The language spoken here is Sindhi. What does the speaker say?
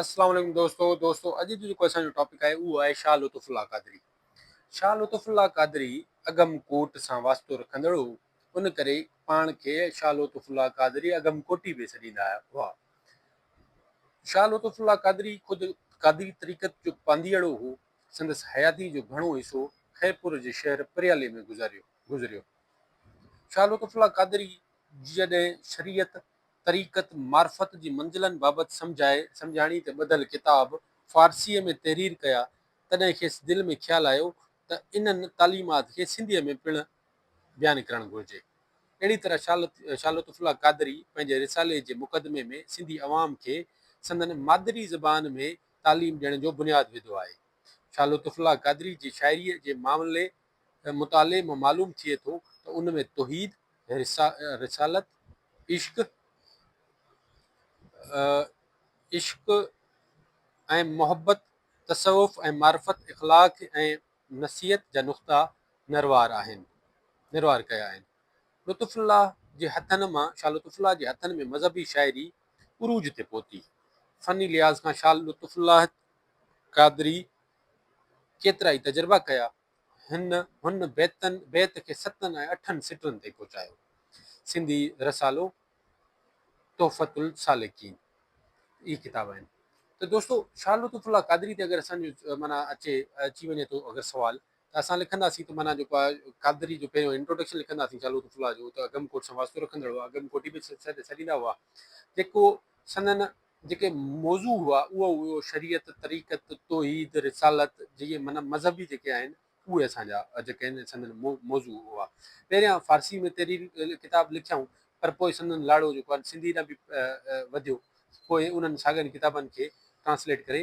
السلام عليڪم دوستو دوستو اڄ جو جيڪو اسان جو ٽاپڪ آهي اهو آهي شاهه لطف الله قادري شاهه لطف الله قادري اگم ڪوٽ سان واسطو رکندڙ هو ان ڪري پاڻ کي شاهه لطف الله قادري اگم ڪوٽي به سڏيندا هئا شاهه لطف الله قادري خود قادري طريقت جو پانديئڙو هو سندس حياتي جو گهڻو حصو خيرپور جي شهر پريالي ۾ گذاريو گذريو شاهه لطف الله قادري جڏهن شريعت طريقت معرفت جي منزلن بابت سمجهائي سمجهاڻي تي ٻڌل ڪتاب فارسيء ۾ تحرير ڪيا، تڏهن کيس دل ۾ خيال آيو ته انهن تعليمات کي سنڌيء ۾ پڻ بيان ڪرڻ گهرجي. اهڙي طرح شاهه لطف الله قادري پنهنجي رسالي جي مقدمي ۾ سنڌي عوام کي سندن مادري زبان ۾ تعليم ڏيڻ جو بنياد وڌو آهي. شاهه لطف الله قادري جي شاعريء جي معاملي ۽ مطالعي مان معلوم ٿئي ٿو ته ان ۾ توحيد، رسالت، عشق، عشق ۽ محبت، تصوف ۽ معرفت، اخلاق ۽ نصيحت جا نقطا نروار آهن، نروار ڪيا آهن. لطف الله جي هٿن مان، شاھ لطف الله جي هٿن ۾ مذهبي شاعري عروج تي پهتي. فني لحاظ کان شاھ لطف الله قادري ڪيترائي تجربا ڪيا. هن هن بيتن بيت کي ستن ۽ اٺن سٽرن تي پهچايو. سنڌي رسالو تحفة السالڪين اهي ڪتاب آهن. ته دوستو شاھ لطف الله قادري تي اگر اسان جو معنيٰ اچي اچي وڃي ٿو اگر سوال ته اسان لکنداسين ته معنيٰ جيڪو آهي قادري جو پهريون انٽروڊڪشن لکنداسين شاھ لطف الله جو ته اگم ڪوٽ سان واسطو رکندڙ هئا اگم ڪوٽ به سڏيندا هئا جيڪو سندن جيڪي موضوع هئا اهو هيو شريعت، طريقت، توحيد، رسالت جيئي معنيٰ مذهبي جيڪي آهن اهي اسان جا جيڪي آهن سندن موضوع هئا. پهريان فارسي ۾ تحرير ڪتاب لکيائون پر پوء سندن لاڙو جيڪو آهن سنڌي ڏانهن به وڌيو. پوء انهن ساڳين ڪتابن کي ٽرانسليٽ ڪري